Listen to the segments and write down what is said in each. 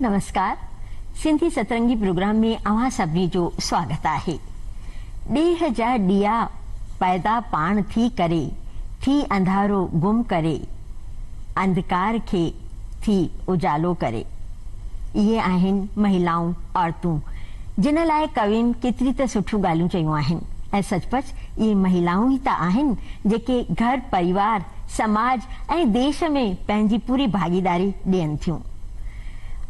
نمسڪار Sindhi Satrangi program ۾ اوهان سڀني جو سواگت آهي ڏيهه جا ڏيئا پئدا پاڻ ٿي ڪري ٿي انڌارو گم ڪري. انڌڪار کي ٿي اجالو ڪري. اهي آهن مهلائون، عورتون، جن لاء ڪوين ڪيتري ته سٺيون ڳالهيون چيون آهن ۽ سچ پچ اهي مهلائون ئي ته آهن جيڪي گهر، پريوار، سماج ۽ ديش ۾ پنهنجي پوري ڀاڳيداري ڏين ٿيون.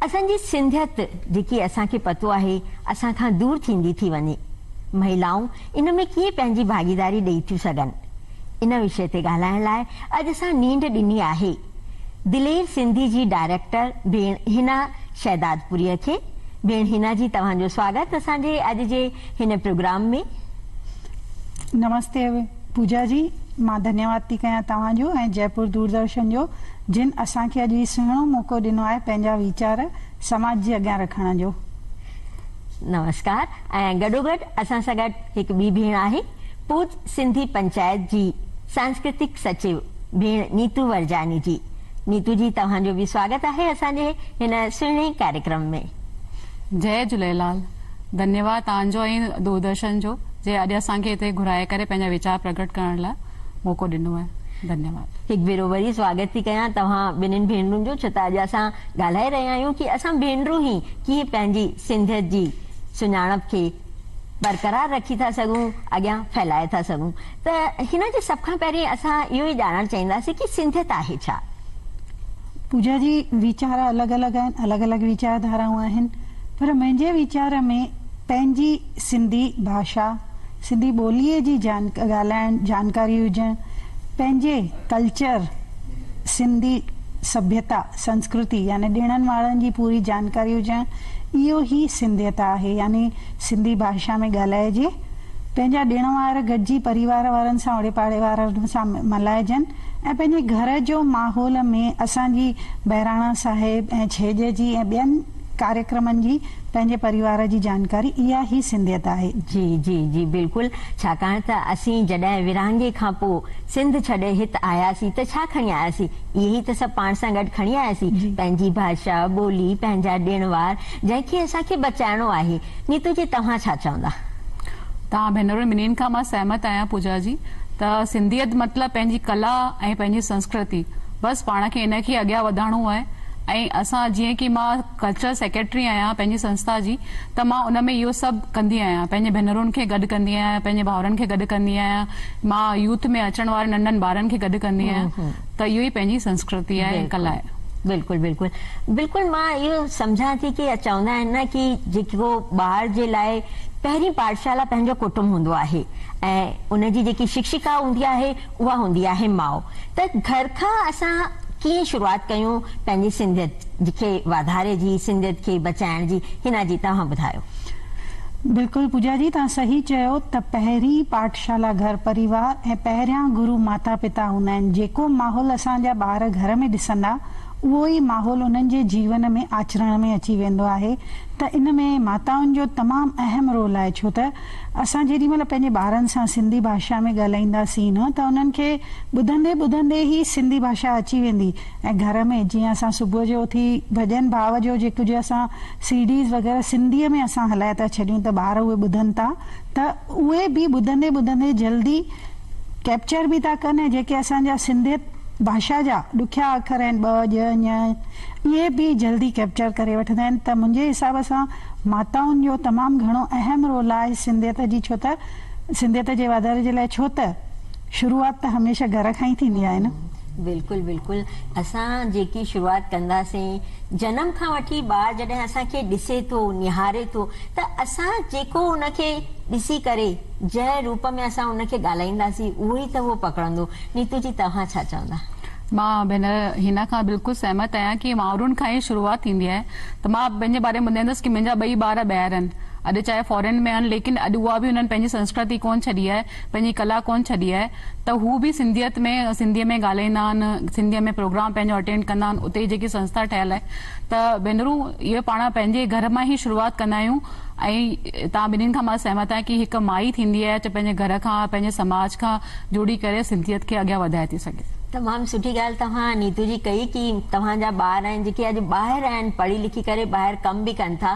اسان جي سنڌيت جيڪي اسان کي پتو آهي اسان کان دور ٿيندي ٿي وڃي. مهلائون ان ۾ ڪيئن پنهنجي ڀاڳيداري ڏئي ٿيون سگهن؟ ان وشي تي ڳالهائڻ لاء اڄ اسان نينڊ ڏني آهي دلير سنڌي جي ڊائريڪٽر ڀيڻ حنا شهدادپوريء کي. ڀيڻ حنا جي توهان جو سواگت اسان جي اڄ جي هن پروگرام ۾. نمستي پوجا جي مان ڌنيواد ٿي ڪيان توهان جو ۽ جئپور دوردرشن جو جن اسان کي اڄ هي سهڻو موقعو ڏنو آهي پنهنجا ويچار سماج جي اڳيان رکڻ جو. نمسڪار ۽ گڏوگڏ اسان سان گڏ هڪ ٻي ڀيڻ آهي. پوچ سنڌي پنچائت جي سانسڪرتڪ سچيو ڀيڻ نيتو ورجاني جي. نيتو جي توهان جو به سواگت آهي اسان جي هن سهڻي ڪاريڪرم ۾. جئي جهليلال. ڌنيواد توهان جو ۽ دوردرشن جو جي اڄ اسان کي هتي گهرائي ڪري پنهنجا ويچار پرگهٽ ڪرڻ لاء موقعو ڏنو آهي. ڌنيواد. هڪ ڀيرو وري سواگت ٿي ڪيان توهان ٻنهين ڀينرون جو ڇو ته اڄ اسان ڳالهائي رهيا آهيون ڪي اسان ڀينرون هي ڪيئن پنهنجي سنڌيت جي سڃاڻپ کي برقرار رکي ٿا سگهون، اڳيان ڦهلائي ٿا سگهون ته هن جي سڀ کان پهرين اسان اهو ئي ڄاڻڻ چاهينداسين ڪي سنڌيت آهي ڇا؟ پوجا جي ويچار الڳ الڳ آهن، الڳ الڳ ويچار ڌارائون آهن پر منهنجي ويچار ۾ پنهنجي سنڌي ڀاشا، سنڌي ٻوليء جي جان ڳالهائڻ، جانڪاري هجڻ، پنهنجي ڪلچر، سنڌي سڀيتا، سنسڪرتي يعني ڏڻن وارن جي پوري جانڪاري هجڻ اهو ئي سنڌيت آهي يعني سنڌي ڀاشا ۾ ڳالهائجي، پنهنجا ڏڻ وار گڏجي پريوار وارن سان اوڙي پاڙي وارن سان ملهائجن ۽ پنهنجي گهر جو ماحول ۾ اسان جي بهراڻا صاحب ۽ ڇيڄ جي ۽ ٻين ڪاريڪرمن جي پنهنجي پريوار جي جانڪاري اها ئي سنڌيت آهي. جي جي جي بلڪل ڇاڪاڻ ته اسين جڏهن ورهاڱي کان پوء سنڌ ڇڏي هت آياسين ته ڇا کڻي آياسين؟ اهي ئي ته سڀ پاڻ سان گڏ کڻي آياسين، پنهنجي ڀاشا، ٻولي، پنهنجا ڏڻ وار، جنهن کي اسان کي بچائڻو آهي. نيتو جي توهان ڇا چوندا؟ تان ڀينرن ٻنهين کان مان سهمت آهيان پوجا جي ته سنڌيت مطلب پنهنجي ڪلا ۽ پنهنجي سنسڪرتي بس پاڻ کي ان کي اڳيان وڌائڻو آهي ۽ اسان جيئن ڪي مان ڪلچرل سيڪريٽري آهيان پنهنجي سنسٿا جي ته مان ان ۾ اهو سڀ ڪندي آهيان پنهنجي ڀينرن کي گڏ ڪندي آهيان پنهنجي ڀائرن کي گڏ ڪندي آهيان مان يوٿ ۾ اچڻ وارن ننڍن ٻارن کي گڏ ڪندي آهيان ته اهو ئي پنهنجي سنسڪرتي آهي ڪلا آهي. بلڪل بلڪل بلڪل مان اهو سمجهان ٿي ڪي چوندا آهن نه ڪي جيڪو ٻار جي لاء پهرين پاٺشالا پنهنجو ڪٽنب هوندو آهي ۽ ان جي جيڪي شڪشڪا هوندي آهي اها هوندي آهي ماء. ته گهر کان اسان ڪيئن شروعات ڪيون پنهنجي سنڌيت کي واڌاري جي، سنڌيت کي بچائڻ جي. حنا جي توهان ٻڌايو. بلڪل پوجا جي توهان صحيح چيو ته پهرين پاٺشالا گهر پريوار ۽ پهريان گرو ماتا پتا هوندا آهن جيڪو ماحول اسان جا ٻار گهر ۾ ڏسندا اهو ئي ماحول انهن جي جيون ۾ آچرڻ ۾ اچي ويندو آهي ته ان ۾ ماتائن جو تمام اهم رول آهي ڇو ته اسان جيڏي مھل پنھنجي ٻارن سان سنڌي ڀاشا ۾ ڳالھائينداسين نه ته انھن کي ٻڌندي ٻڌندي ئي سنڌي ڀاشا اچي ويندي ۽ گھر ۾ جيئن اسان صبح جو اٿي ڀڄن ڀاء جو جي ڪجهه اسان سي ڊيز وغيره سنڌي ۾ اسان ھلائي ٿا ڇڏيون ته ٻار اھي ٻڌن ٿا ته اھي به ٻڌندي ٻڌندي جلدي ڪيپچر به ٿا ڪن ۽ جيڪي اسان جا سنڌيت ڀاشا جا ڏکيا اکر آھن ٻ ڄ ڃ اھي به جلدي ڪيپچر ڪري وٺندا آھن ته منھنجي حساب سان ماتائن جو تمام گهڻو اهم رول آهي سنڌيت جي ڇو ته سنڌيت جي واڌاري جي لاء ڇو ته شروعات ته هميشه گهر کان ئي ٿيندي آهي نه. بلڪل بلڪل اسان جيڪي شروعات ڪنداسين جنم کان وٺي ٻار جڏهن اسان کي ڏسي ٿو نهاري ٿو ته اسان جيڪو ان کي ڏسي ڪري جنهن روپ ۾ اسان ان کي ڳالهائينداسين اهو ئي ته هو پڪڙندو نيتو جي توهان ڇا چوندا. مان ڀينر حنا کان بلڪل سهمت آهيان ڪي مائرن کان ئي شروعات ٿيندي آهي ته مان پنهنجي باري ۾ ٻڌائيندس ڪي منهنجا ٻئي ٻار ٻاهر آهن اڄ چاهي فارين ۾ آهن ليڪن اڄ اها به انهن پنهنجي سنسڪرتي ڪون ڇڏي آهي پنهنجي ڪلا ڪون ڇڏي آهي ته هو به سنڌيت ۾ سنڌي ۾ ڳالهائيندا آهن سنڌي ۾ پروگرام پنهنجو اٽينڊ ڪندا آهن اتي جيڪي سنسٿا ٺهيل آهي ته ڀينرون اهي پاڻ پنهنجي گهر مان ئي شروعات ڪندا آهيون. ۽ توهان ٻنهين کان مان سهمت آهيان ڪي هڪ مائي ٿيندي آهي چي پنهنجي گهر کان پنهنجي سماج کان جڙي ڪري سنڌيت کي اڳيان وڌائي ٿي سگهي. تمام سٺي ڳالهه توهان نيتو جي ڪئي ڪي توهان جا ٻار آهن جيڪي اڄ ٻاهر آهن پڙهي لکي ڪري ٻاهر ڪم به ڪن ٿا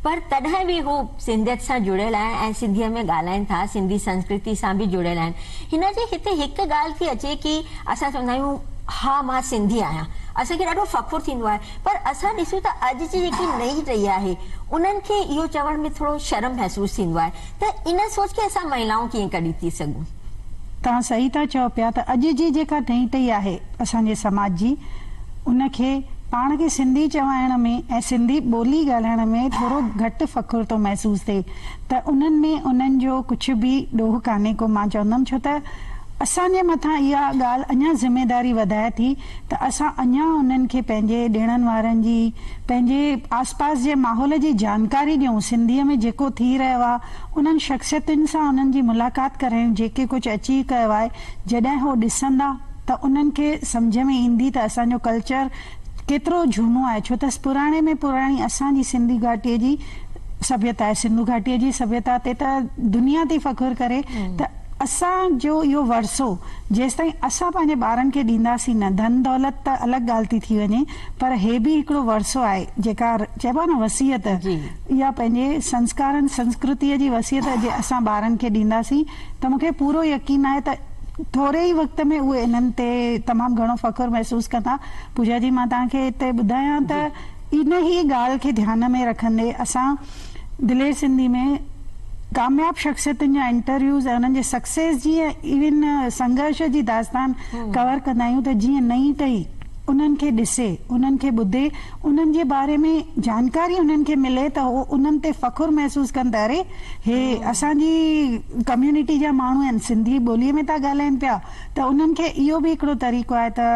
پر تڏهن به هو سنڌيت سان جڙيل آهن ۽ سنڌي ۾ ڳالهائين ٿا سنڌي سنسڪرتي سان به جڙيل آهن هن جي هتي هڪ ڳالهه ٿي اچي ڪي اسان چوندا آهيون ها مان سنڌي آهيان اسان کي ڏاڍو فخر ٿيندو آهي پر اسان ڏسون ته اڄ جي جيڪي نئين ٽهي آهي انهن کي اهو چوڻ ۾ ٿورو شرم محسوس ٿيندو آهي ته ان سوچ کي اسان مهلائون ڪيئن ڪڍي ٿي سگهون. توهان صحيح ٿا چئو پيا ته اڄ جي جيڪا نئين ٽهي آهي اسان جي سماج جي ان کي پاڻ کي سنڌي چوائڻ ۾ ۽ سنڌي ٻولي ڳالهائڻ ۾ ٿورو گهٽ فخر ٿو محسوس ٿئي ته انهن ۾ انهن جو ڪجهه به ڏوهه ڪانهي ڪو مان چوندم ڇو ته اسان جي مٿان اها ڳالهه اڃا ذميداري وڌائي ٿي ته اسان اڃا انهن کي پنهنجي ڏيڻن وارن جي، پنهنجي آس پاس جي ماحول جي جانڪاري ڏيون، سنڌيء ۾ جيڪو ٿي رهيو آهي، انهن شخصيتن سان انهن جي ملاقات ڪرايون جيڪي ڪجهه اچي ڪيو آهي، جڏهن هو ڏسندا ته انهن کي سمجهه ۾ ايندي ته اسان جو ڪلچر ڪيترو جهونو آهي ڇو ته پراڻي ۾ پراڻي اسان جي سنڌو گهاٽيء جي سڀيتا آهي، سنڌو گهاٽيء جي سڀيتا تي ته دنيا ٿي فخر ڪري ته. اسان جو اهو ورثو جيستائين اسان پنهنجي ٻارن کي ڏينداسين نه، ڌن دولت ته الڳ ڳالهه ٿي ٿي وڃي پر هي به هڪڙو ورثو آهي جيڪا چئبو آهي نه وصيت اها پنهنجي سنسڪارن سنسڪرتيء جي وصيت جي اسان ٻارن کي ڏينداسين ته مون کي پورو يقين آهي ته ٿوري ئي وقت ۾ اهي انهن تي تمام گهڻو فخر محسوس ڪندا. پوجا جي مان توهان کي هتي ٻڌايان ته انهيء ڳالهه کي ڌيان ۾ رکندي اسان دلير سنڌي ۾ ڪامياب شخصيتن جا انٽرويوز ۽ انهن جي سڪسيس جي ۽ ايون سنگهرش جي داستان ڪور ڪندا آهيون ته جيئن نئين ٽهي انهن کي ڏسي، انهن کي ٻڌي، انهن جي باري ۾ جانڪاري انهن کي ملي ته هو انهن تي فخر محسوس ڪن ته اري هي اسان جي ڪميونٽي جا ماڻهو آهن، سنڌي ٻولي ۾ ٿا ڳالهائين پيا ته انهن کي اهو به هڪڙو طريقو آهي ته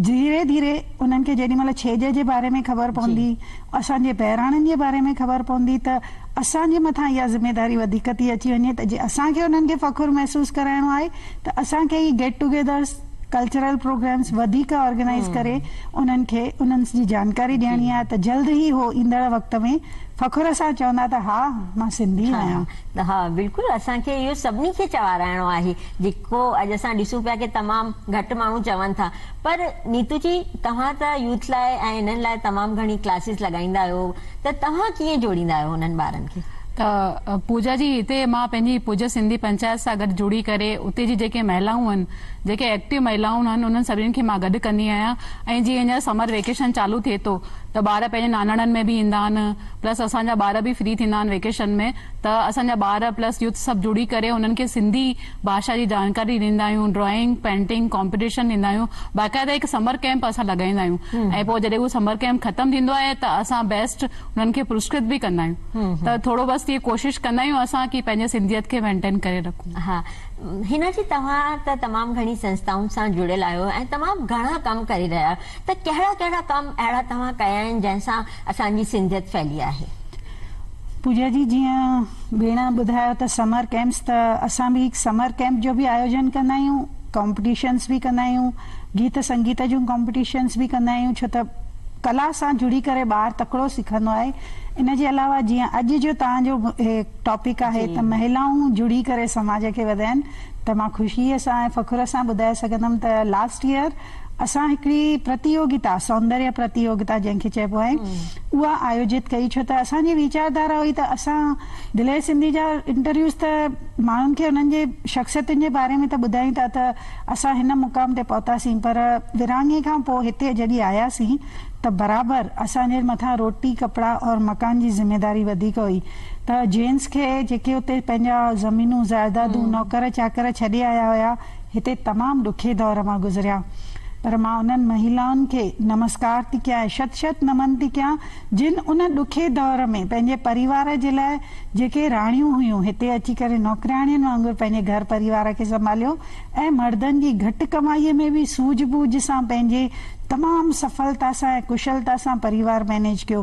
ڌيري ڌيري انهن کي جيڏي مهل ڇيڄ جي باري ۾ خبر پوندي، اسان جي بهراڻن جي باري ۾ خبر پوندي ته اسان جي مٿان اها ذميداري وڌيڪ ٿي اچي وڃي ته جي اسان کي انهن کي فخر محسوس ڪرائڻو آهي ته اسان کي ئي گيٽ ٽوگيدرز، ڪلچرل پروگرامز وڌيڪ آرگنائيز ڪري انهن کي انهن جي جانڪاري ڏيڻي آهي ته جلد ئي هو ايندڙ وقت ۾ فخر سان چوندا ته ها مان سنڌي آهيان. ها بلڪل اسان کي اهو سڀني کي چوارائڻو آهي جيڪو اڄ اسان ڏسون پيا ڪي تمام گهٽ ماڻهو چون ٿا. پر نيتو جي توهان ته يوٿ لاء ۽ انهن لاء تمام گهڻي ڪلاسز لڳائيندا آهيو ته توهان ڪيئن جوڙيندا آهيو انهن ٻارن کي؟ ته پوجا جي هتي مان پنهنجي پوجا سنڌي پنچائت سان گڏ جڙي ڪري اتي جي جيڪي مهلائون هن جيڪي ايڪٽيو مهلائون هن انهن سڀني کي مان گڏ ڪندي آهيان ۽ جي هينئر سمر ويڪيشن چالو ٿئي ٿو ته ٻار پنهنجي ناناڻن ۾ به ايندا آهن پلس اسان جا ٻار به فري ٿيندا آهن ويڪيشن ۾ ته اسان جا ٻار پلس يوٿ سڀ جڙي ڪري انهن کي سنڌي ڀاشا جي جاڻڪاري ڏيندا آهيون، ڊرائنگ، پينٽنگ ڪامپيٽيشن ڏيندا آهيون، باقاعده هڪ سمر ڪيمپ اسان لڳائيندا آهيون ۽ پوء جڏهن اهو سمر ڪيمپ ختم ٿيندو آهي ته اسان بيسٽ انهن کي پرسڪرت به ڪندا آهيون ته ٿورو بس ائين ڪوشش ڪندا آهيون اسان ڪي پنهنجي سنڌيت کي مينٽين ڪري رکون. ها حنا جي توهان ته تمام گهڻي سنسٿائن سان جڙيل آهيو ۽ تمام گهڻا ڪم ڪري رهيا آهيو ته ڪهڙا ڪهڙا ڪم اهڙا توهان ڪيا آهن جنهن سان اسان جي سنڌيت ڦهلي آهي؟ پوجا جي جيئن ڀيڻ ٻڌايو ته سمر ڪئمپس ته اسان به هڪ سمر ڪئمپ جو به آيوجن ڪندا آهيون ڪمپٽيشنس به ڪندا آهيون گيت سنگيت جون ڪمپٽيشنس به ڪندا آهيون ڇو ته ڪلا سان جڙي ڪري ٻار تڪڙو سکندو آهي ان جي علاوه جيئن اڄ جو توهان جو هي ٽاپڪ آهي ته مهلائون جڙي ڪري سماج کي وڌائن ته مان خوشيء سان ۽ فخر سان ٻڌائي سگهندم ته لاسٽ يئر اسان هڪڙي پرتيوگتا، سوندريه پرتيوگتا جنهن کي چئبو آهي، اها آيوجت ڪئي ڇو ته اسان جي ويچار ڌارا هئي ته اسان دلير سنڌي جا انٽرويوز ته ماڻهن کي انهن جي شخصيتن جي باري ۾ ته ٻڌايون ٿا ته اسان هن مقام تي پهتاسين پر ورهاڱي کان پوء هتي جڏهن آياسين ته برابر اسان جي مٿان روٽي، ڪپڙا اور مڪان جي ذميداري وڌيڪ هئي ته جينز کي جيڪي اتي پنهنجا زمينون، زائدادون، نوڪر چاڪر ڇڏي آيا هيا، هتي تمام ڏکي دور مان گذريا پر مان انهن مهيلائن کي نمسڪار ٿي ڪيان ۽ شت شت نمن ٿي ڪيان جن ان ڏکي دور ۾ پنهنجي پريوار جي لاء جيڪي راڻيون هيون هتي اچي ڪري نوڪرياڻين وانگر پنهنجي گهر پريوار کي سنڀاليو ۽ مردن جي گهٽ ڪمائي ۾ به سوجهه ٻوجهه سان پنهنجي تمام سڦلتا سان ۽ ڪشلتا سان پريوار مئنيج ڪيو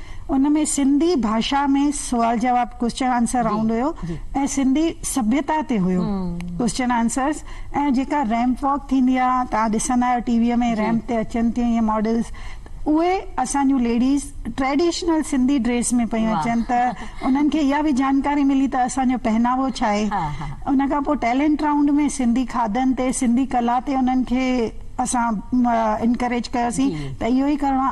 ان ۾ سنڌي ڀاشا ۾ سوال جواب ڪوئسچن آنسر رائونڊ هيو ۽ سنڌي سڀيتا تي هيو ڪوئسچن آنسرس ۽ جيڪا ريمپ واڪ ٿيندي آ توهان ڏسندا آهيو ٽي وي ۾ ريمپ تي اچن ٿيون ايئن ماڊلس اهي اسان جون ليڊيز ٽريڊيشنل سنڌي ڊريس ۾ پيون اچن ته انهن کي اها به جانڪاري ملي ته اسان جو پهناوو ڇا آهي ان کان پوء ٽيلنٽ رائونڊ ۾ سنڌي کاڌن تي سنڌي ڪلا تي انهن کي اسان انڪريج ڪيوسين ته اهو ئي ڪرڻو آ.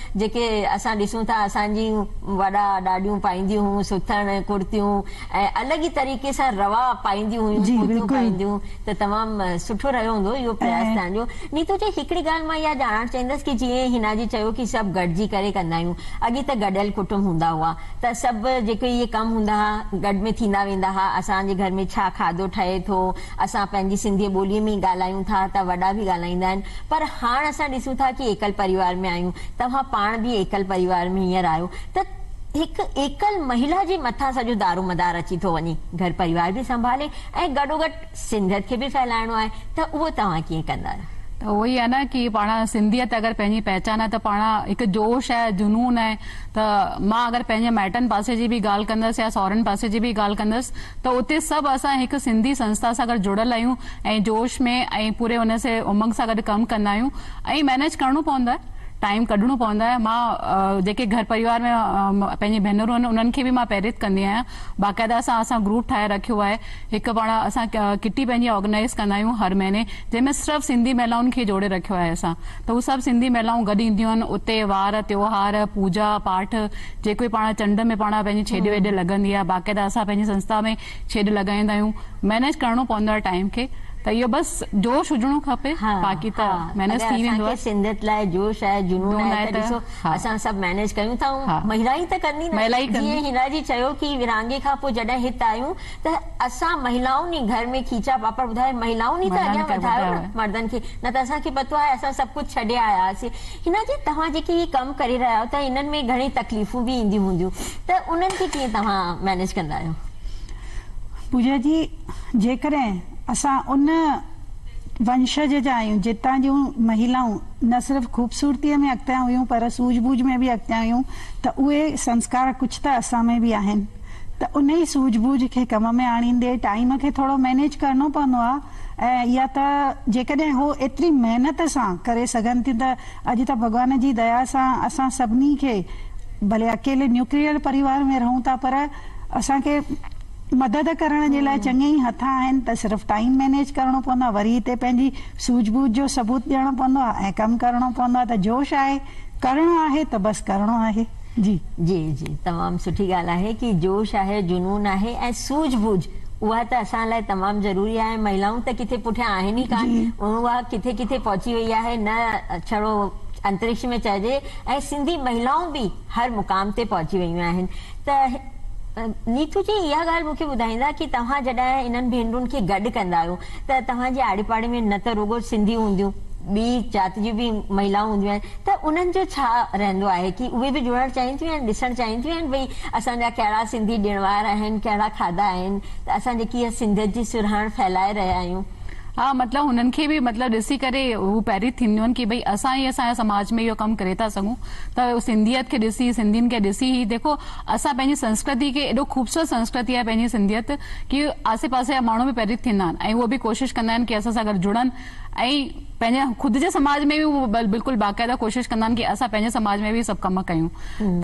جيڪي اسان ڏسون ٿا اسان جي وڏا ڏاڏيون پائينديون هيون سٿڻ ڪڙتيون ۽ الڳ ئي طريقي سان روا پائينديون هيون ڪوتيون پائينديون ته تمام سٺو رهيو هوندو اهو پرياس تهان جو نيتو جي هڪڙي ڳالهه مان اها ڄاڻڻ چاهيندس ڪي جيئن هنا جي چيو ڪي سڀ گڏجي ڪري ڪندا آهيون اڳي ته گڏيل ڪٽنب هوندا هئا ته سڀ جيڪي اهي ڪم هوندا ها گڏ ۾ ٿيندا ويندا ها اسان جي گهر ۾ ڇا کاڌو ٺهي ٿو اسان پنهنجي سنڌي ٻوليء ۾ ئي ڳالهايون ٿا ته وڏا به ڳالهائيندا آهن پر هاڻ اسان ڏسون ٿا ڪي ايڪل پريوار ۾ آهيون توهان پاڻ به ايڪل پريوار ۾ هينئر آهيو ته هڪ ايڪل مهيلا جي مٿان سڄو دارومدار اچي ٿو وڃي گهر پريوار به سنڀالي ۽ گڏوگڏ سنڌيت کي به ڦهلائڻو آهي ته اهو توهان ڪيئن ڪندا؟ ته اهو ئي آهي نه ڪي پاڻ سنڌيت اگر پنهنجي پهچان آهي ته پاڻ هڪ جوش آهي جنون آهي. ته مان اگر پنهنجي مائٽن پاسي جي به ڳالهه ڪندس يا سهرن پاسي جي به ڳالهه ڪندس ته اتي سڀ اسان هڪ سنڌي سنسٿا سان گڏ جڙيل آهيون ۽ جوش ۾ ۽ پوري ان سي امنگ سان گڏ ڪم ڪندا آهيون ۽ مينيج ڪرڻو پوندو آهي ٽائيم ڪڍڻو پوندو آهي مان جيڪي گهر پريوار ۾ پنهنجي ڀينرون آهن انهن کي به مان پريت ڪندي آهيان باقاعده اسان اسان گروپ ٺاهي رکيو آهي هڪ پاڻ اسان ڪٽي پنهنجي آرگنائيز ڪندا آهيون هر مهيني جنهن ۾ صرف سنڌي مهلائن کي جوڙي رکيو آهي اسان ته هو سڀ سنڌي مهلائون گڏ اينديون آهن اتي وار تيوهار پوڄا پاٺ جيڪو به پاڻ چنڊ ۾ پاڻ پنهنجي ڇيڄ ويڄ لڳندي آهي باقاعده اسان پنهنجي سنسٿا ۾ ڇيڄ لڳائيندا آهيون مئنيج ڪرڻو پوندو آهي ٽائيم کي ته اهو بس جوش هجڻو کپي باقي ته مئنيج ٿي ويندو آهي. سنڌيت لاء جوش آهي جنون آهي ته ڏسو اسان سڀ مئنيج ڪيون ٿا ۽ مهلا ئي ته ڪندي نه جيئن هنا جي چيو ڪي ورهاڱي کان پوء جڏهن هت آيون ته اسان مهلائون ئي گهر ۾ کيچا پاپڙ ٻڌائي مهلائون ئي ته اڳيان وڌايو نه مردن کي نه ته اسان کي پتو آهي اسان سڀ ڪجهه ڇڏي آيا هئاسين حنا جي توهان جيڪي هي ڪم ڪري رهيا آهيو ته انهن ۾ گهڻي تڪليفون به اينديون هونديون ته انهن کي ڪيئن توهان مينيج ڪندا آهيو. پوجا جي جيڪڏهن اسان ان ونشج جا آهيون جتان جون مهلائون نه صرف خوبصورتي ۾ اڳتيان هيون پر سوجهه ٻوجهه ۾ به اڳتيان هيون ته اهي سنسڪار ڪجهه ته اسان ۾ به آهن. ته انهي سوجهه ٻوجهه کي ڪم ۾ آڻيندي ٽائيم کي ٿورو مينيج ڪرڻو پوندو آ ۽ اها ته جيڪڏهن هو ايتري محنت سان ڪري سگهن ٿيون ته اڄ ته ڀڳوان جي ديا سان اسان سڀني کي ڀلي اڪيلي نيوڪليئر پريوار ۾ رهون ٿا پر اسان کي مدد ڪرڻ جي لاء چڱي ئي هٿ آهن ته صرف ٽائيم مينيج ڪرڻو پوندو آ وري هتي پنهنجي سوجهه ٻوجهه جو ثبوت ڏيڻو پوندو آ ۽ ڪم ڪرڻو پوندو آ ته جوش آهي ڪرڻو آهي ته بس ڪرڻو آهي. جي جي جي تمام سٺي ڳالهه آهي ڪي جوش آهي جنون آهي ۽ سوجهه ٻوجهه اها ته اسان لاء تمام ضروري آهي مهلائون ته ڪٿي پٺيان آهن ئي ڪانه ۽ اها ڪٿي ڪٿي پهچي وئي آهي نه ڇڙو انترڪش ۾ چئجي ۽ سنڌي مهلائون به هر مقام تي پهچي ويون آهن ته نيٿو جي اها ڳالهه مون کي ٻڌائيندا ڪي توهان جڏهن انهن ڀينرن کي گڏ ڪندا آهيو ته توهان جي آڙي پاڙي ۾ نه ته رڳو سنڌي هونديون ٻي ذات جون به مهلائون هونديون آهن ته انهن جو ڇا رهندو آهي ڪي اهي به جڙڻ چاهين ٿيون ۽ ڏسڻ چاهين ٿيون ۽ ڀئي اسان جا ڪهڙا سنڌي ڏڻ وار آهن ڪهڙا کاڌا آهن ته اسان جي ڪيئن سنڌيت جي سرهاڻ ڦهلائي رهيا آهيون. ها مطلب هنن کي به مطلب ڏسي ڪري هو پريت ٿينديون ڪي ڀئي اسان هي اسان جي سماج ۾ اهو ڪم ڪري ٿا سگهون ته سنڌيت کي ڏسي سنڌين کي ڏسي هي ديکو اسان پنهنجي سنسڪرتي کي ايڏو خوبصورت سنسڪرتي آهي پنهنجي سنڌيت ڪي آسي پاسي جا ماڻهو به پريت ٿيندا آهن ۽ هو به ڪوشش ڪندا آهن ڪي اسان سان گڏ جڙن ۽ پنهنجي خود جي سماج ۾ به هو بلڪل باقاعده ڪوشش ڪندا آهن ڪي اسان پنهنجي سماج ۾ به اهي سڀ ڪم ڪيون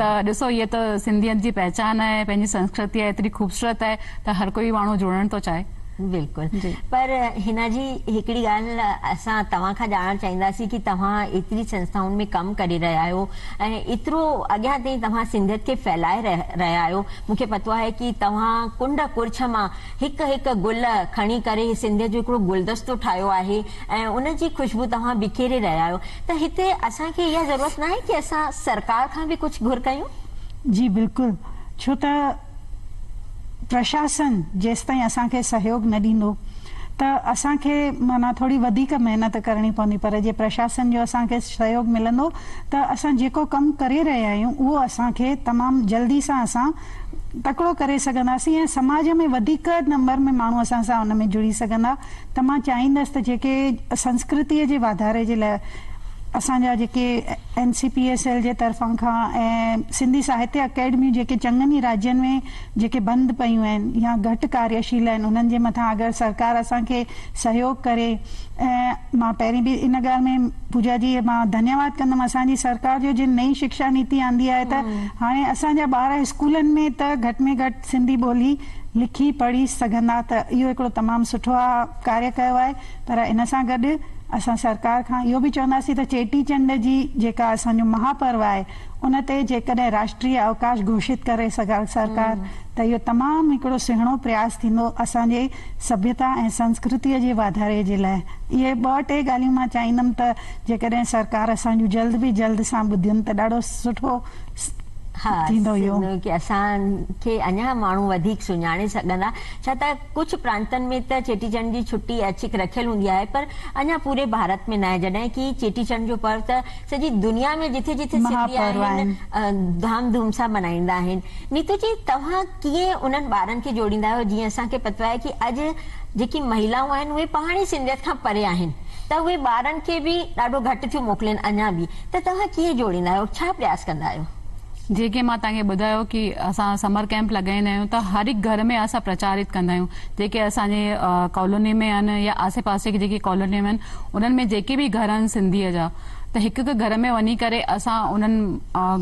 ته ڏسو هيء ته سنڌيت جي پهچان آهي پنهنجي سنسڪرتي آهي ايتري خوبصورت آهي ته هر ڪوئي ماڻهو جڙڻ ٿو چاهي. بلڪل پر حنا جي هڪڙي ڳالهه اسان توهان کان ڄاڻڻ چاهينداسين ڪي توهان ايتري سنسٿائن ۾ ڪم ڪري رهيا آهيو ۽ ايترو اڳيان تائين توهان سنڌيت کي ڦهلائي رهيا آهيو مونکي پتو آهي ڪي توهان ڪنڊ ڪڙڇ مان هڪ هڪ گل کڻي ڪري هي سنڌيء جو هڪڙو گلدستو ٺاهيو آهي ۽ ان جي خوشبو توهان بکيري رهيا آهيو ته هتي اسان کي اها ضرورت ناهي ڪي اسان سرڪار کان به ڪجهه گهر ڪيون؟ جي بلڪل ڇو ته پرشاسن جيستائين اسان کي سهيوگ نه ڏيندو ته اسان کي معنيٰ ٿوري وڌيڪ محنت ڪرڻي پوندي پر جي پرشاسن جو اسان کي سهيوگ ملندو ته اسان جيڪو ڪم ڪري رهيا آهيون اهو اسان کي تمام جلدي سان اسان تڪڙو ڪري سگهنداسين ۽ سماج ۾ وڌيڪ نمبر ۾ ماڻهو اسان سان ان ۾ جڙي سگهندا ته مان چاهيندس ته جيڪي سنسڪرتيء جي واڌاري جي لاء اسان جا جيڪي N C P S L جي طرفان کان ۽ سنڌي ساهتيه اڪيڊميون جيڪي چڱن ئي راڄين ۾ جيڪي بند پيون آهن يا گهٽ ڪارياشيل آهن انهن جي مٿان اگر سرڪار اسان کي سهيوگ ڪري ۽ مان پهرين به ان ڳالهه ۾ پوجا جي مان ڌنيواد ڪندم اسان جي سرڪار جو جن نئين شڪشا نيتي آندي آهي ته هاڻي اسان جا ٻار اسڪولن ۾ ته گهٽ ۾ گهٽ سنڌي ٻولي لکي پڙهي سگهندا ته اهو هڪڙو تمام سٺو آ ڪاريه ڪيو آهي پر ان سان گڏ اسان سرڪار کان اهو به چونداسين ته چيٽي چنڊ جي جيڪا اسان جو مها پرو آهي ان تي جيڪڏهن راشٽري اوڪاش گهوشت ڪري سرڪار ته اهو تمام هڪڙو سهڻو پرياس ٿيندو اسان جي سڀيتا ۽ سنسڪرتيء جي واڌاري جي لاء. اهي ٻه ٽي ڳالهيون مان چاهيندم ته جيڪڏهن سرڪار اسان جون جلد به جلد سان ٻڌين ته ڏاڍو سٺو ٿيندو اهو. ها ڪي اسان کي اڃا ماڻهو وڌيڪ سڃاڻي سگهندا ڇا ته ڪجهه پرانتن ۾ ته چيٽي چنڊ جي ڇٽي ايڇڪ رکيل هوندي آهي پر اڃا پوري ڀارت ۾ ناهي جڏهن ڪي چيٽي چنڊ جو پرو ته سڄي دنيا ۾ جٿي جٿي سنڌي آهن ڌام ڌوم سان ملهائيندا آهن. نيتو جي توهان ڪيئن انهن ٻارن کي جوڙيندا آهيو جيئن اسان کي پتو آهي ڪي اڄ جيڪي مهيلائون آهن اهي پاڻ ئي سنڌيت کان پري آهن ته اهي ٻارن کي به ڏاڍو گهٽ ٿيون موڪلين اڃا به ته توهان ڪيئن جوڙيندا آهيو ڇا پرياس ڪندا آهيو. جيئن ڪي مان توهان کي ٻڌايو ڪي اسان سمر ڪئمپ لڳائيندا آهيون ته هر هڪ گهر ۾ اسان پرچاريت ڪندا آهيون جيڪي اسان جي ڪالوني ۾ آهن يا آسي پاسي جي جيڪي ڪالونيون آهن انهن ۾ جيڪي به گهر آهن سنڌيء جا ته هڪ هڪ گهر ۾ وڃي ڪري اسان انهن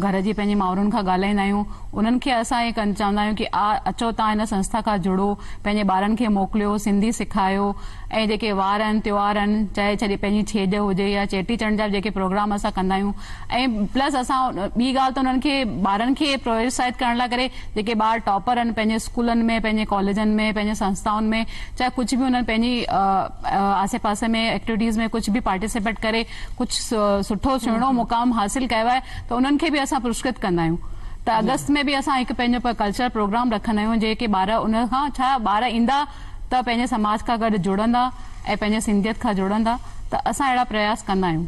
گهر جي پنهنجي مائرن کان ڳالهائيندا آهيون انهن کي اسان هي چوندا آهيون ڪي آ اچو تان هن سنسٿا کان جڙو پنهنجي ٻارن کي موڪليو سنڌي سکايو ۽ جيڪي وار آهن تيوهار آهن چاهي ڇڏي پنهنجي ڇيڄ هجي يا چيٽي چنڊ جا به جيڪي پروگرام اسان ڪندا آهيون ۽ پلس اسان ٻي ڳالهه ته انهن کي ٻارن کي پرويوسائيت ڪرڻ لاء ڪري جيڪي ٻار ٽاپر آهن پنهنجي اسڪولن ۾ پنهنجي ڪاليجن ۾ پنهنجي سنستائن ۾ چاهي ڪجهه به انهن پنهنجي آسي پاسي ۾ ايڪٽويٽيز ۾ ڪجهه به پارٽيسپيٽ ڪري ڪجهه سٺو سهڻو مقام حاصل ڪيو آهي ته انهن کي به اسان پرسڪرت ڪندا آهيون ته اگست ۾ به اسان هڪ پنهنجو ڪلچرل پروگرام رکندا آهيون جيڪي ٻار ان کان ڇا ٻار ايندا ته پنهنجي سماج کان گڏ جڙندا ۽ پنهنجي سنڌيت کان جڙندا ته اسان اهڙا پرياس ڪندا آهيون.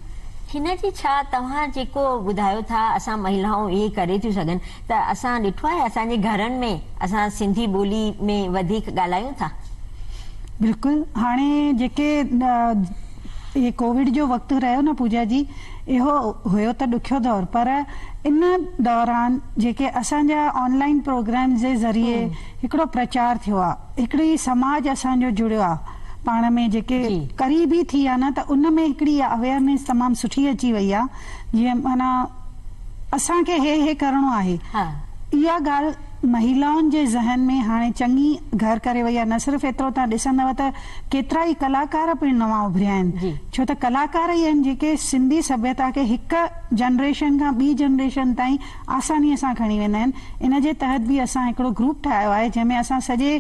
هن جي ڇا توهان جيڪو ٻڌايو ٿا اسان مهيلائون اهي ڪري ٿيون سگهن ته اسان ڏٺو آهي اسان جي گهرن ۾ اسان سنڌي ٻولي ۾ وڌيڪ ڳالهايون ٿا. بلڪل هاڻي جيڪي هي ڪووڊ جو وقت رهيو نه پوجا جي اهو هيو ته ڏکيو دور پر ان دوران جيڪي اسان جا آن لائين پروگرامز جي ذريعي هڪڙو پرچار ٿيو آ هڪڙي سماج اسان جو جڙيو آ پاڻ ۾ جيڪي قريبي ٿي آ نه ته ان ۾ هڪڙي اها اويئرنيس تمام سٺي اچي وئي آ جيئن معنيٰ اسان کي هي هي ڪرڻو آهي اها ڳالھ مهيلائن جي ذهن ۾ هاڻي چڱي گهر ڪري وئي آ نه صرف ايترو تهان ڏسندؤ ته ڪيترا ئي ڪلاڪار پڻ نوان اڀريا آهن ڇو ته ڪلاڪار ئي آهن جيڪي سنڌي سڀيتا کي هڪ جنريشن کان ٻي جنريشن تائين آسانيء سان کڻي ويندا آهن ان جي تحت به اسان هڪڙو گروپ ٺاهيو آهي جنهن ۾ اسان سڄي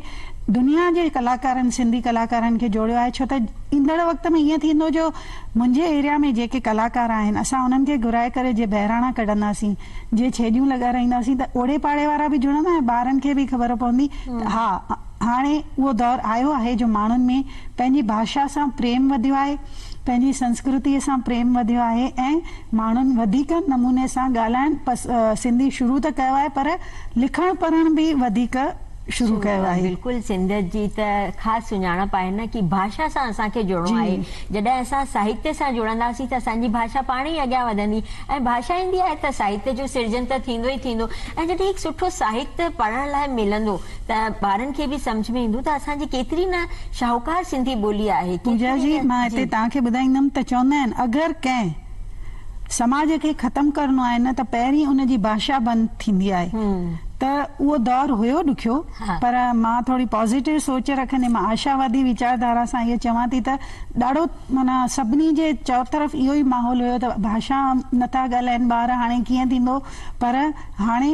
دنيا جي ڪلاڪارن سنڌي ڪلاڪارن کي جوڙيو آهي ڇو ته ايندڙ وقت ۾ ائين ٿيندو جو منهنجي ايريا ۾ جيڪي ڪلاڪار آهن اسان انهن کي گهرائي ڪري جي بهراڻا ڪڍنداسين جي ڇيڄون لڳارائينداسين ته اوڙي پاڙي وارا به جڙندا ۽ ٻارن کي به خبر پوندي ته ها هاڻي اهو دور آيو آهي جو ماڻهن ۾ پنهنجي ڀاشا سان پريم وڌيو آهي پنهنجي سنسڪرتيء سان پريم وڌيو آهي ۽ ماڻهن وڌيڪ نموني سان ڳالهائڻ پس سنڌي شروع ته ڪيو آهي پر لکڻ پڙهڻ به وڌيڪ شروع ڪيو آهي. بلڪل سنڌ جي ته خاص سڃاڻپ آهي نه ڪي ڀاشا سان اسان کي جڙڻو آهي جڏهن اسان ساهتيه سان جڙنداسين ته اسان جي ڀاشا پاڻ ئي اڳيان وڌندي ۽ ڀاشا ايندي آهي ته ساهتيه جو سرجن ته ٿيندو ئي ٿيندو ۽ جڏهن هڪ سٺو ساهتيه پڙهڻ لاء ملندو ته ٻارن کي به سمجهه ۾ ايندو ته اسان جي ڪيتري نه شاهوڪار سنڌي ٻولي آهي. پوجا جي مان هتي توهان کي ٻڌائيندم ته چوندا آهن اگر ڪنهن سماج کي ختم ڪرڻو آهي نه ته پهرين ان جي ڀاشا بند ٿيندي آهي ته اهو دور هيو ڏکيو پر مان ٿوري پازيٽو سوچ رکندي مان آشاوادي ويچار ڌارا سان اهو چوان ٿي ته ڏاڍو معنيٰ سڀني جي چؤطرف اهو ئي ماحول هيو ته ڀاشا نٿا ڳالهائين ٻار هاڻي ڪيئن ٿيندو پر هاڻي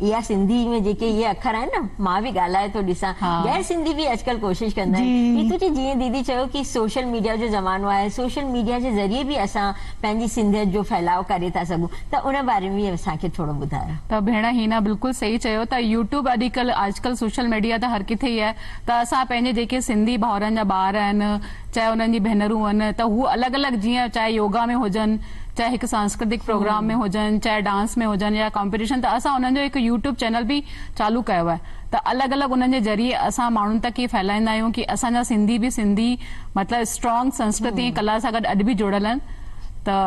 اها سنڌي ۾ جيڪي اهي اکر آهن نه مان به ڳالهائي ٿو ڏسان غير سنڌي به اڄڪلهه ڪوشش ڪندا آهن هي تو چي جيئن ديدي چيو ڪي سوشل ميڊيا جو زمانو آهي سوشل ميڊيا جي ذريعي به اسان پنهنجي سنڌيت جو ڦهلاء ڪري ٿا سگهون ته ان باري ۾ اسان کي ٿورو ٻڌايو. ته ڀيڻ هينا بلڪل صحيح چيو ته يوٽيوب اڄڪلهه اڄڪلهه سوشل ميڊيا ته هر ڪٿي ئي آهي ته اسان پنهنجي جيڪي سنڌي ڀائرن جا ٻار آهن چاهي انهن جي ڀينرون آهن ته هو الڳ الڳ جيئن چاهي يوگا ۾ هجن چاهي هڪ سانسڪرتڪ پروگرام ۾ هجن چاهي ڊانس ۾ هجن يا ڪامپيٽيشن ته اسان انهن جو هڪ يوٽيوب چينل به چالو ڪيو آهي ته الڳ الڳ انهن جي ذريعي اسان ماڻهن تڪ هي ڦهلائيندا آهيون ڪي اسان جا سنڌي به سنڌي مطلب اسٽرانگ سنسڪرتي ۽ ڪلا سان گڏ اڄ به جڙيل آهن ته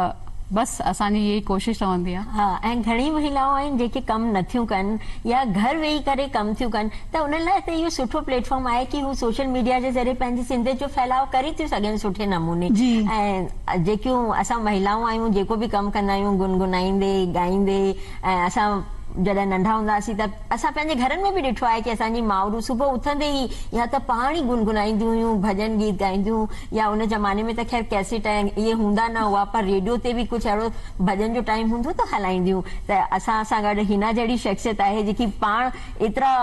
بس اسان جي اها ئي ڪوشش رهندي آهي. ها ۽ گهڻي مهيلائون آهن جيڪي ڪم نه ٿيون ڪن يا گهر ويهي ڪري ڪم ٿيون ڪن ته انهن لاء ته اهو سٺو پليٽ فارم آهي ڪي هو سوشل ميڊيا جي ذريعي پنهنجي سنڌيت جو ڦهلاء ڪري ٿيون سگهن سٺي نموني ۽ جيڪيون اسان مهيلائون آهيون جيڪو به ڪم ڪندا آهيون گنگنائيندي ڳائيندي ۽ اسان جڏهن ننڍا هوندا هئاسين ته اسان پنهنجي گهرن ۾ به ڏٺو آهي ڪي اسان جي مائرون صبح اٿندي ئي يا ته پاڻ ئي گنگنائينديون هيون ڀڄن گيت ڳائينديون يا ان زماني ۾ ته خير ڪيسٽ ۽ اهي هوندا نه هئا پر ريڊيو تي به ڪجهه اهڙو ڀڄن جو ٽائيم هوندو ته هلائينديون ته اسان سان گڏ حنا جهڙي شخصيت آهي جيڪي پاڻ ايترا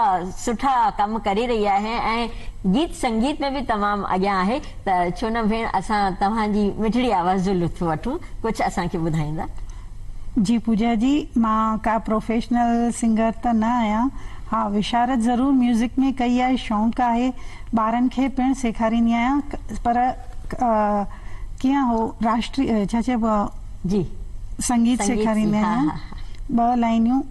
سٺا ڪم ڪري رهي آهي ۽ گيت سنگيت ۾ به تمام اڳيان آهي ته ڇو نه ڀيڻ اسان توهان جي مٺڙي آواز جو لطف وٺون ڪجهه اسان کي ٻڌائيندا. جي پوجا جي مان ڪا پروفيشنل سنگر ته نه آهيان ها وشارت ضرور ميوزڪ ۾ ڪئي آهي شونق آهي ٻارن کي پڻ سيکاريندي آهيان پر ڪيئن هو راشٽري ڇا چئبو آهي جي سنگيت سيکاريندي آهيان ٻه لائنيون.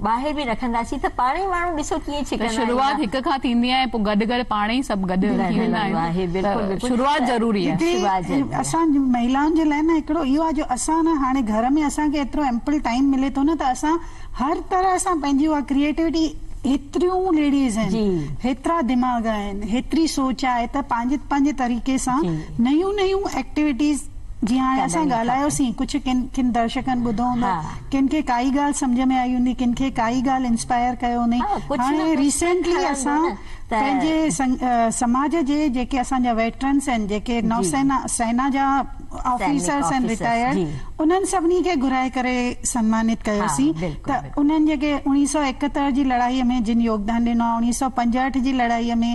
ٻاهر به رکنداسين ته پاڻهي ماڻهو ڏسو ڪيئن ڇڪندا آهن. ته شروعات هڪ کان ٿيندي آهي پوء گڏ گڏ پاڻ ئي سڀ گڏ ٿي ويندا آهيون ته شروعات ضروري آهي. اسان مهيلائن جي لاء نه هڪڙو اهو آهي جو اسان نه هاڻي گهر ۾ اسان کي ايترو ايمپل ٽائيم ملي ٿو نه ته اسان هر طرح سان پنهنجي اها ڪريئيٽوٽي هيتريون ليڊيز آهن هيترا دماغ آهن هيتري سوچ آهي ته پنهنجي پنهنجي طريقي سان نيون نيون ايڪٽيوٽيز جيئن هاڻي اسان ڳالهايوسين ڪجهه ڪن ڪن درشڪن ٻڌو هوندو ڪن کي ڪائي ڳالهه سمجهه ۾ آئي هوندي ڪن کي ڪائي ڳالهه انسپائر ڪيو هوندي هاڻي ريسينٽلي اسان پنهنجي سماج جي جيڪي اسان جا ويٽرنس آهن جيڪي نوسينا سينا جا آفيسرس آهن ريٽائرڊ انهن سڀني کي گهرائي ڪري سمانت ڪيوسين ته انهن جيڪي اڻيهه سؤ ايڪهتر جي لڙائي ۾ جن يوگدان ڏنو آهي اڻيهه سؤ پنجهٺ جي لڙائي ۾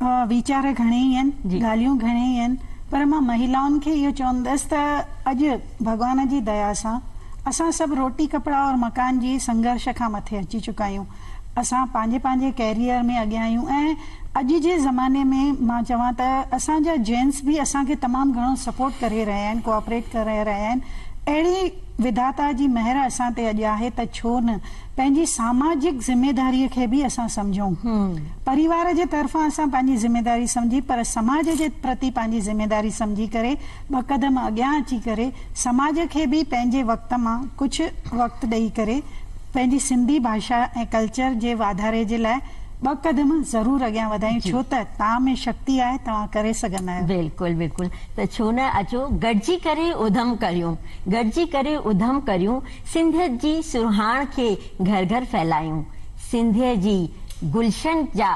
ويچار گهڻيئي آهن، ڳالهيون گهڻيئي آهن پر مان مهيلائن کي اهو چوندس ته اڄ ڀڳوان جي ديا سان اسان سڀ روٽي ڪپڙا اور مڪان جي سنگهرش کان مٿي اچي چڪا آهيون. اسان پنهنجي پنهنجي ڪيريئر ۾ اڳيان آهيون ۽ اڄ جي زماني ۾ مان چوان ته اسان جا جينٽس به اسان کي تمام گهڻو سپورٽ ڪري رهيا آهن، ڪوآپريٽ ڪري رهيا آهن. اهڙي وڌاتا جي مهر اسان تي اڄ آهي ته ڇو نه پنهنجي ساماجڪ ذميداريء کي به اسان سمجهون. پريوار جي طرفان اسان پنهنجي ذميداري سمجهي پر سماج جي پرتي پنهنجي ذميداري سمجهي ڪري ٻه قدم اڳيان اچي ڪري سماج کي به پنهنجي وقت مان ڪجهه وقت ڏئي ڪري پنهنجي سنڌي ڀاشا ۽ ڪلچر جي واڌاري جي لاء ٻه قدم ضرور اڳيان وڌايون ڇو ته تان ۾ شڪتي آهي توهان ڪري سگهندا آهيو. بلڪل بلڪل ته ڇو نه اچو گڏجي ڪري اڌم ڪريون گڏجي ڪري اڌم ڪريون. سنڌيت جي سرهاڻ کي گهر گهر ڦهلايون، سنڌيء جي گلشن جا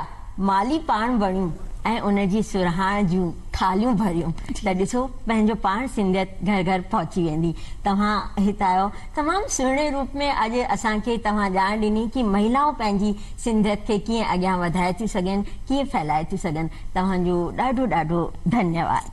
مالي پاڻ بڻيون ۽ ان جي سرهاڻ جون ٿالهيون ڀريون ته ڏسو پنهنجو پاڻ سنڌيت گهر گهر پهچي ويندي. توهان هت آيو تمام سهڻي روپ ۾ اڄ اسان کي توهان ڄاڻ ڏني ڪي مهيلائون پنهنجي سنڌيت کي ڪيئن اڳيان وڌائي ٿيون سگهن ڪيئن ڦهلائي ٿيون سگهن توهان جو ڏاڍو ڏاڍو ڌنيواد.